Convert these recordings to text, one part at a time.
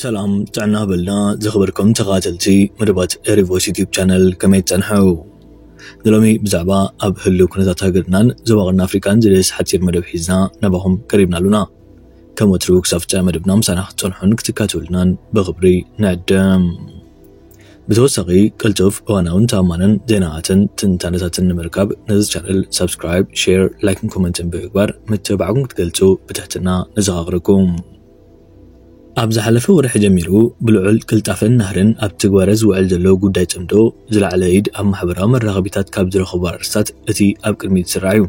ሰላም ጥዕና በልና ዝኽበርኩም ተኸታተልቲ መደባት ሪቮስ ዩቲብ ቻነል ከመይ ትጸንሐው ንሎሚ ብዛዕባ ኣብ ህሉ ኩነታት ሃገርናን ዞባ ቀርኒ ኣፍሪቃን ዝደስ ሓፂር መደብ ሒዝና ናባኹም ቀሪብና ኣሉና ከም ወትሩ ክሳብ ፍፃ መደብና ምሳና ክትፀንሑን ክትካተሉናን ብኽብሪ ንዕድም ብተወሳኺ ቅልጡፍ፣ እዋናውን ተኣማንን ዜናታትን ትንታነታትን ንምርካብ ነዚ ቻነል ሳብስክራይብ፣ ሼር፣ ላይክን ኮመንትን ብምግባር ምትብባዕኩም ክትገልጹ ብትሕትና ነዘኻኽረኩም። ኣብ ዝሓለፈ ወርሒ ጀሚሩ ብልዑል ቅልጣፈን ናህርን ኣብ ትግባረ ዝውዕል ዘሎ ጉዳይ ጽምዶ ዝለዓለ ኢድ ኣብ ማሕበራዊ መራኸቢታት ካብ ዝረኸቡ ኣርእስታት እቲ ኣብ ቅድሚት ዝስራዕ እዩ።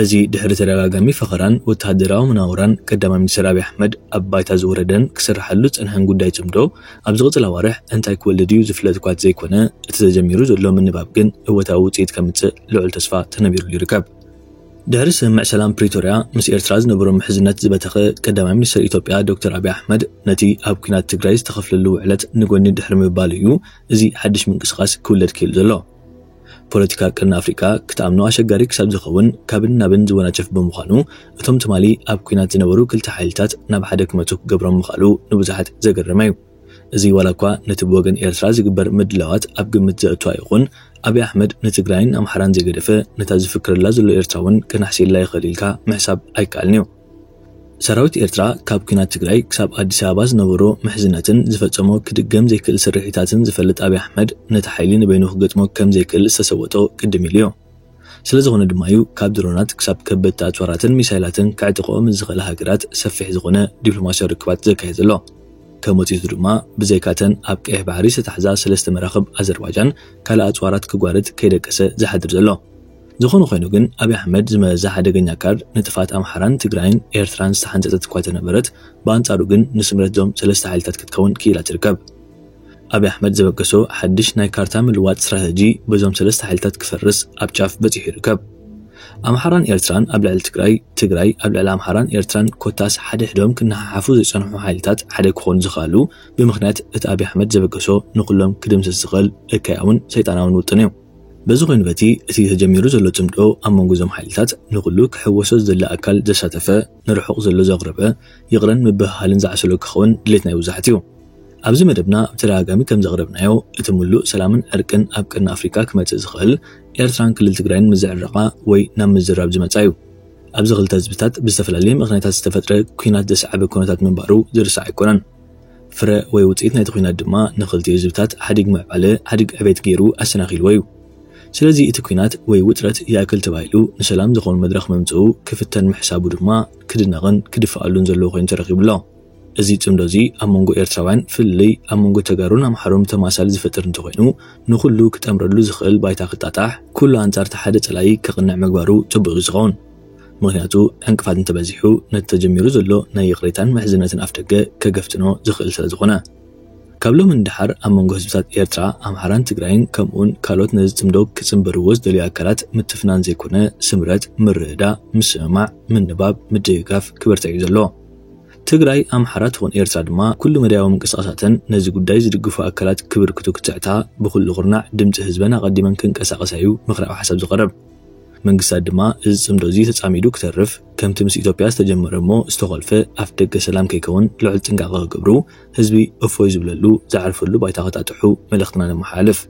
እዚ ድሕሪ ተደጋጋሚ ፈኸራን ወተሃደራዊ መናውራን ቀዳማይ ሚኒስተር ኣብይ ኣሕመድ ኣብ ባይታ ዝወረደን ክስርሓሉ ዝጸንሐን ጉዳይ ጽምዶ ኣብ ዝቕጽል ኣዋርሕ እንታይ ክወልድ እዩ ዝፍለጥ'ኳ ተዘይኮነ እቲ ተጀሚሩ ዘሎ ምንባብ ግን እወታዊ ውጽኢት ከምጽእ ልዑል ተስፋ ተነቢሩሉ ይርከብ። ድሕሪ ስምምዕ ሰላም ፕሪቶርያ ምስ ኤርትራ ዝነበሮ ምሕዝነት ዝበተኸ ቀዳማይ ሚኒስተር ኢትዮጵያ ዶክተር ኣብይ ኣሕመድ ነቲ ኣብ ኲናት ትግራይ ዝተኸፍለሉ ውዕለት ንጎኒ ድሕሪ ምባሉ እዩ እዚ ሓድሽ ምንቅስቓስ ክውለድ ክኢሉ ዘሎ። ፖለቲካ ቀርኒ ኣፍሪቃ ክትኣምኖ ኣሸጋሪ ክሳብ ዝኸውን ካብን ናብን ዝወናጨፍ ብምዃኑ፣ እቶም ትማሊ ኣብ ኲናት ዝነበሩ ክልተ ሓይልታት ናብ ሓደ ክመጹ ክገብሮም ምኽኣሉ ንብዙሓት ዘገረመ'ዩ። እዚ ዋላ'ኳ ነቲ ብወገን ኤርትራ ዝግበር ምድላዋት ኣብ ግምት ዘእቱ ኣይኹን፣ ኣቢ ኣሕመድ ንትግራይን ኣምሓራን ዘይገደፈ፣ ነታ ዝፍክረላ ዘሎ ኤርትራ'ውን ከናሕስየላ ይኽእል ኢልካ ምሕሳብ ኣይከኣልን'ዩ። ሰራዊት ኤርትራ ካብ ኲናት ትግራይ ክሳብ ኣዲስ ኣበባ ዝነበሮ ምሕዝነትን ዝፈጸሞ ክድገም ዘይክእል ስርሒታትን ዝፈልጥ ኣብይ ኣሕመድ ነቲ ሓይሊ ንበይኑ ክገጥሞ ከም ዘይክእል ዝተሰወጦ ቅድም ኢሉዮ። ስለዝኾነ ድማዩ ካብ ድሮናት ክሳብ ከበድቲ ኣጽዋራትን ሚሳይላትን ከዕጥቐኦ ምስ ዝኽእላ ሃገራት ሰፊሕ ዝኾነ ዲፕሎማስያዊ ርክባት ዘካይድ ዘሎ። ከም ውጽኢቱ ድማ ብዘይካተን ኣብ ቀይሕ ባሕሪ ዝተታሕዛ ሰለስተ መራኽብ ኣዘርባጃን ካልእ ኣጽዋራት ክጓርት ከይደቀሰ ዝሓድር ዘሎ። ዝኾነ ኾይኑ ግን ኣብይ ኣሕመድ ዝመዘዛ ሓደገኛ ካርድ ንጥፍኣት ኣምሓራን ትግራይን ኤርትራን ዝተሓንጸጸት እኳ ተነበረት ብኣንጻሩ ግን ንስምረት እዞም ሰለስተ ሓይልታት ክትከውን ክኢላ ትርከብ። ኣብይ ኣሕመድ ዘበገሶ ሓድሽ ናይ ካርታ ምልዋጥ ስትራተጂ በዞም ሰለስተ ሓይልታት ክፈርስ ኣብ ጫፍ በጺሑ ይርከብ። ኣምሓራን ኤርትራን ኣብ ልዕሊ ትግራይ፣ ትግራይ ኣብ ልዕሊ ኣምሓራን ኤርትራን ኮታስ ሓደሕዶም ክነሓሓፉ ዝጸንሑ ሓይልታት ሓደ ክኾኑ ዝኸኣሉ ብምኽንያት እቲ ኣብይ ኣሕመድ ዘበገሶ ንኹሎም ክድምስስ ዝኽእል እከያውን ሰይጣናውን ውጥን እዩ። በዚ ኮይኑ በቲ እቲ ተጀሚሩ ዘሎ ጽምዶ ኣብ መንጎ እዞም ሓይልታት ንኹሉ ክሕወሶ ዝደሊ ኣካል ዘሳተፈ ንርሑቕ ዘሎ ዘቕረበ ይቕረን ምብህሃልን ዝዓሰሎ ክኸውን ድሌት ናይ ብዙሓት እዩ። ኣብዚ መደብና ብተደጋጋሚ ከም ዘቕረብናዮ እቲ ምሉእ ሰላምን ዕርቅን ኣብ ቀርኒ ኣፍሪቃ ክመጽእ ዝኽእል ኤርትራን ክልል ትግራይን ምስ ዝዕረቓ ወይ ናብ ምዝራብ ዝመጻ እዩ። ኣብዚ ክልተ ህዝብታት ብዝተፈላለየ ምኽንያታት ዝተፈጥረ ኲናት ዘስዓበ ኩነታት ምንባሩ ዝርሳዕ ኣይኮነን። ፍረ ወይ ውጽኢት ናይቲ ኲናት ድማ ንኽልቲኡ ህዝብታት ሓዲግ ምዕባለ ሓዲግ ዕቤት ገይሩ ኣሰናኺልዎ እዩ። ስለዚ እቲ ኲናት ወይ ውጥረት ይኣክል ተባሂሉ ንሰላም ዝኸውን መድረኽ ምምጽኡ ክፍተን ምሕሳቡ ድማ ክድነቕን ክድፋኣሉን ዘለዎ ኮይኑ ተረኺቡ ኣሎ። እዚ ጽምዶ እዚ ኣብ መንጎ ኤርትራውያን ፍልልይ ኣብ መንጎ ተጋሩን ኣምሓሩን ተማሳሊ ዝፈጥር እንተኾይኑ ንኹሉ ክጠምረሉ ዝኽእል ባይታ ክጣጣሕ ኩሉ ኣንጻር እቲ ሓደ ጸላኢ ከቕንዕ ምግባሩ ጽቡቕ እዩ ዝኸውን። ምኽንያቱ ዕንቅፋት እንተበዚሑ ነቲ ተጀሚሩ ዘሎ ናይ ይቕሬታን ምሕዝነትን ኣፍደገ ከገፍጥኖ ዝኽእል ስለዝኾነ። ካብ ሎሚ ንደሓር ኣብ መንጎ ህዝብታት ኤርትራ፣ ኣምሓራን ትግራይን ከምኡውን ካልኦት ነዚ ጽምዶ ክጽንብርዎ ዝደልዩ ኣካላት ምትፍናን ዘይኮነ ስምረት፣ ምርድዳእ፣ ምስምማዕ፣ ምንባብ፣ ምድግጋፍ ክበርትዕ'ዩ ዘሎ። ትግራይ፣ ኣምሓራ ትኹን ኤርትራ ድማ ኩሉ መዳያዊ ምንቅስቓሳተን ነዚ ጉዳይ ዝድግፉ ኣካላት ክብርክቱ ክትዕታ ብኹሉ ኩርናዕ ድምጺ ህዝበን ኣቐዲመን ክንቀሳቐሳ'ዩ ምኽራዊ ሓሳብ ዝቐርብ። መንግስታት ድማ እዚ ጽምዶ እዚ ተጻሚዱ ክተርፍ ከምቲ ምስ ኢትዮጵያ ዝተጀመረ እሞ ዝተኾልፈ ኣፍደገ ሰላም ከይከውን ልዑል ጥንቃቐ ክገብሩ ህዝቢ እፎይ ዝብለሉ ዝዓርፈሉ ባይታ ከጣጥሑ መልእኽትና ነመሓላልፍ።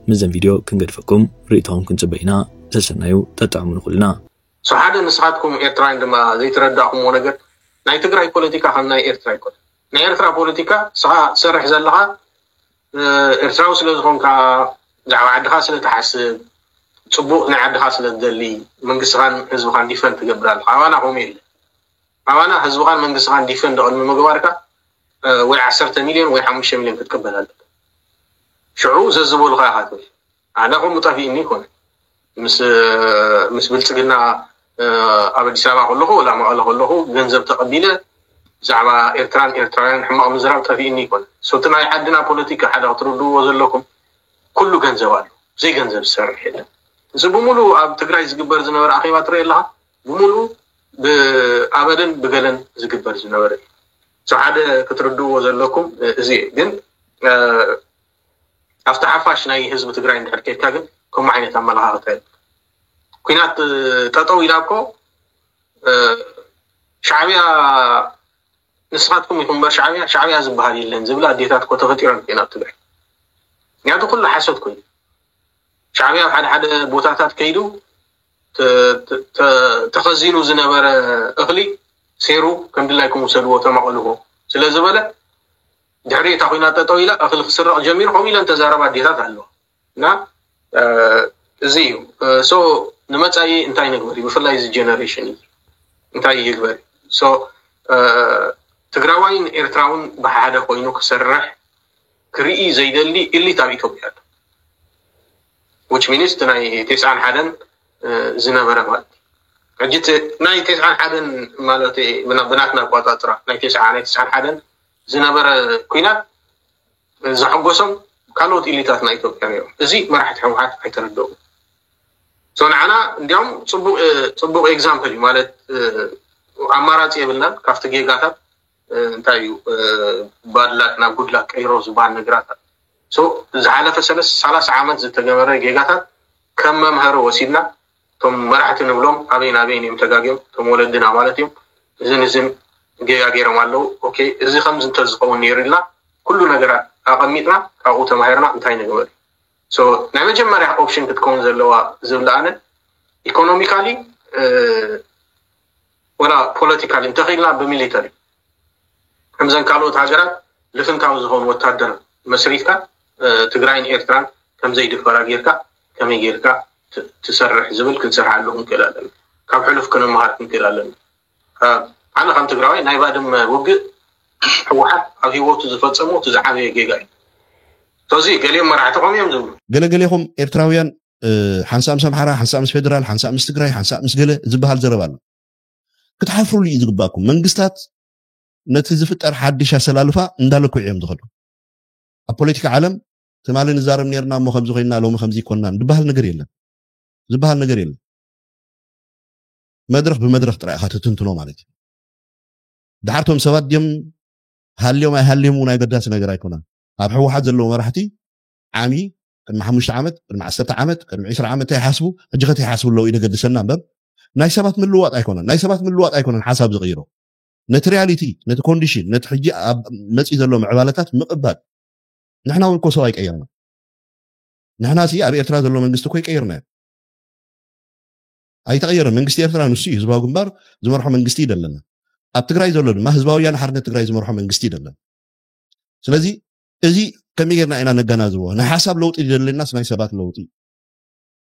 ምስዘን ቪድዮ ክንገድፈኩም ርእይቶኹም ክንጽበ ኢና ሰሰናዩ ጠጥዕሙ ንኹልና። ሰው ሓደ ንስኻትኩም ኤርትራውያን ድማ ዘይተረዳእኩምዎ ነገር ናይ ትግራይ ፖለቲካ ከም ናይ ኤርትራ ኣይኮነን ናይ ኤርትራ ፖለቲካ ንስኻ ትሰርሕ ዘለኻ፣ ኤርትራዊ ስለ ዝኾንካ ብዛዕባ ዓድኻ ስለ ትሓስብ ጽቡቅ ናይ ዓድኻ ስለ ትደሊ መንግስትኻን ህዝብኻን ዲፈንድ ትገብር ኣለኻ ኣባና ከምኡ የለን ኣባና ህዝብኻን መንግስትኻን ዲፈንድ ቅድሚ ምግባርካ ወይ ዓሰርተ ሚልዮን ወይ ሓሙሽተ ሚልዮን ክትቅበል ኣለካ ሽዑ ዘዝበሉኻ ኢኻ ትብል ኣነ ከምኡ ጠፊእኒ ይኮነ ምስ ብልፅግና ኣብ ኣዲስ ኣበባ ከለኹ ወላ መቐለ ከለኹ ገንዘብ ተቐቢለ ብዛዕባ ኤርትራን ኤርትራውያን ሕማቕ ምዝራብ ጠፊእኒ ይኮነ ሶቲ ናይ ዓድና ፖለቲካ ሓደ ክትርድእዎ ዘለኩም ኩሉ ገንዘብ ኣሎ ብዘይ ገንዘብ ዝሰርሕ የለን እዚ ብምሉ ኣብ ትግራይ ዝግበር ዝነበረ ኣኼባ ትርኢ ኣለካ ብምሉ ብኣበልን ብገለን ዝግበር ዝነበረ እዩ ሓደ ክትርድእዎ ዘለኩም እዚ ግን ኣብቲ ሓፋሽ ናይ ህዝቢ ትግራይ እንድሕር ኬድካ ግን ከምኡ ዓይነት ኣመለኻኽታ የብሉን። ኩናት ጠጠው ኢላ እኮ ሻዕብያ ንስኻትኩም ኢኹም እምበር ሻዕብያ ሻዕብያ ዝበሃል የለን ዝብላ ኣዴታት እኮ ተፈጢረን እኮ ናብ ትግራይ ምክንያቱ ኩሉ ሓሶት ኮይኑ ሻዕብያ ኣብ ሓደ ሓደ ቦታታት ከይዱ ተኸዚኑ ዝነበረ እኽሊ ሴሩ ከምድላይኩም ውሰድዎ ተማቐልዎ ስለ ዝበለ ድሕሪ እታ ኩናት ጠጠው ኢላ እኽሊ ክስረቕ ጀሚሩ ከምኡ ኢለን ተዛረባ ኣዴታት ኣለዋ እና እዚ እዩ ሶ ንመፃኢ እንታይ ንግበር እዩ ብፍላይ እዚ ጀነሬሽን እዩ እንታይ ይግበር ሶ ትግራዋይን ኤርትራውን ብሓደ ኮይኑ ክሰርሕ ክርኢ ዘይደሊ ኢሊት ኣብ ኢትዮጵያ ኣሎ ዊች ሚኒስት ናይ ቴስዓን ሓደን ዝነበረ ማለት ሕጂ ናይ ቴስዓን ሓደን ማለት ብናትና ኣቋፃፅራ ናይ ቴስዓ ናይ ቴስዓን ሓደን ዝነበረ ኩናት ዘሐጎሶም ካልኦት ኢሊታትና ኢትዮጵያ ነይሮም። እዚ መራሕቲ ሕወሓት ኣይተረደኡን። ሰው ንዓና እንዲያውም ፅቡቅ ኤግዛምፕል እዩ ማለት ኣማራፂ የብልናን ካብቲ ጌጋታት እንታይ እዩ ባድላክ ናብ ጉድላክ ቀይሮ ዝበሃል ነገራት ዝሓለፈ ሰላሳ ዓመት ዝተገበረ ጌጋታት ከም መምሃሪ ወሲድና እቶም መራሕቲ ንብሎም ኣበይን ኣበይን እዮም ተጋግዮም እቶም ወለድና ማለት እዮም እዝን እዝን ጌጋ ጌሮም ኣለው ኦኬ እዚ ከምዚ እንተዝኸውን ኔሩ ኢልና ኩሉ ነገራት ኣቐሚጥና ካብኡ ተማሂርና እንታይ ንግበር ሶ ናይ መጀመርያ ኦፕሽን ክትከውን ዘለዋ ዝብላ ኣነ ኢኮኖሚካሊ ወላ ፖለቲካሊ እንተኺኢልና ብሚሊተሪ ከምዘን ካልኦት ሃገራት ልፍንታዊ ዝኾኑ ወታደር መስሪትካ ትግራይን ኤርትራን ከምዘይድፈራ ጌርካ ከመይ ጌርካ ትሰርሕ ዝብል ክንሰርሓሉ ክንክእል ኣለና ካብ ሕሉፍ ክንመሃር ክንክእል ኣለና ኣነ ከም ትግራዋይ ናይ ባድመ ውግእ ሕወሓት ኣብ ሂወቱ ዝፈፀሞ እቲ ዝዓበየ ጌጋ እዩ ስለዚ ገሊኦም መራሕቲ ከምኡ እዮም ዝብሉ ገለገሌኹም ኤርትራውያን ሓንሳእ ምስ ኣምሓራ፣ ሓንሳእ ምስ ፌደራል፣ ሓንሳእ ምስ ትግራይ፣ ሓንሳእ ምስ ገለ ዝበሃል ዘረባ ኣሎ። ክትሓፍሩሉ እዩ ዝግባኩም። መንግስታት ነቲ ዝፍጠር ሓድሽ ኣሰላልፋ እንዳለክዑ እዮም ዝኸዱ። ኣብ ፖለቲካ ዓለም ትማሊ ንዛረብ ነርና እሞ ከምዚ ኮይና ሎሚ ከምዚ ይኮናን ዝበሃል ነገር የለን ዝበሃል ነገር የለን። መድረኽ ብመድረኽ ጥራይ ኢኻ ትትንትኖ ማለት እዩ ድሓር ቶም ሰባት ድም ሃልዮም ኣይሃልዮም እውን ኣገዳሲ ነገር ኣይኮነን ኣብ ሕወሓት ዘለዉ መራሕቲ ዓሚ ቅድሚ ሓሙሽተ ዓመት ቅድሚ ዓሰርተ ዓመት ቅድሚ ዕስራ ዓመት እንታይ ይሓስቡ ሕጂ ከት ይሓስቡ ኣለዉ ይደገድሰና እምበር ናይ ሰባት ምልዋጥ ኣይኮነን ናይ ሰባት ምልዋጥ ኣይኮነን ሓሳብ ዝቕይሮ ነቲ ሪያሊቲ ነቲ ኮንዲሽን ነቲ ሕጂ ኣብ መፅኢ ዘሎ ምዕባለታት ምቕባል ንሕና እውን እኮ ሰብ ኣይቀየርና ንሕና ሲ ኣብ ኤርትራ ዘሎ መንግስቲ እኮ ይቀይርና እዩ ኣይተቐየረ መንግስቲ ኤርትራ ንሱ እዩ ህዝባዊ ግንባር ዝመርሖ መንግስቲ እዩ ዘለና ኣብ ትግራይ ዘሎ ድማ ህዝባዊ ወያነ ሓርነት ትግራይ ዝመርሖ መንግስቲ እዩ ዘለና ስለዚ እዚ ከመይ ጌርና ኢና ነገናዝቦ? ናይ ሓሳብ ለውጢ ዘድለናስ ናይ ሰባት ለውጢ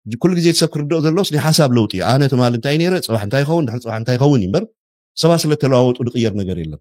እዩ። ኩሉ ግዜ ሰብ ክርድኦ ዘለዎስ ናይ ሓሳብ ለውጢ እዩ። ኣነ ትማሊ እንታይ ነይረ ፅባሕ እንታይ ይኸውን ድሕሪ ፅባሕ እንታይ ይኸውን እዩ እምበር ሰባት ስለተለዋወጡ ዝቕየር ነገር የለን።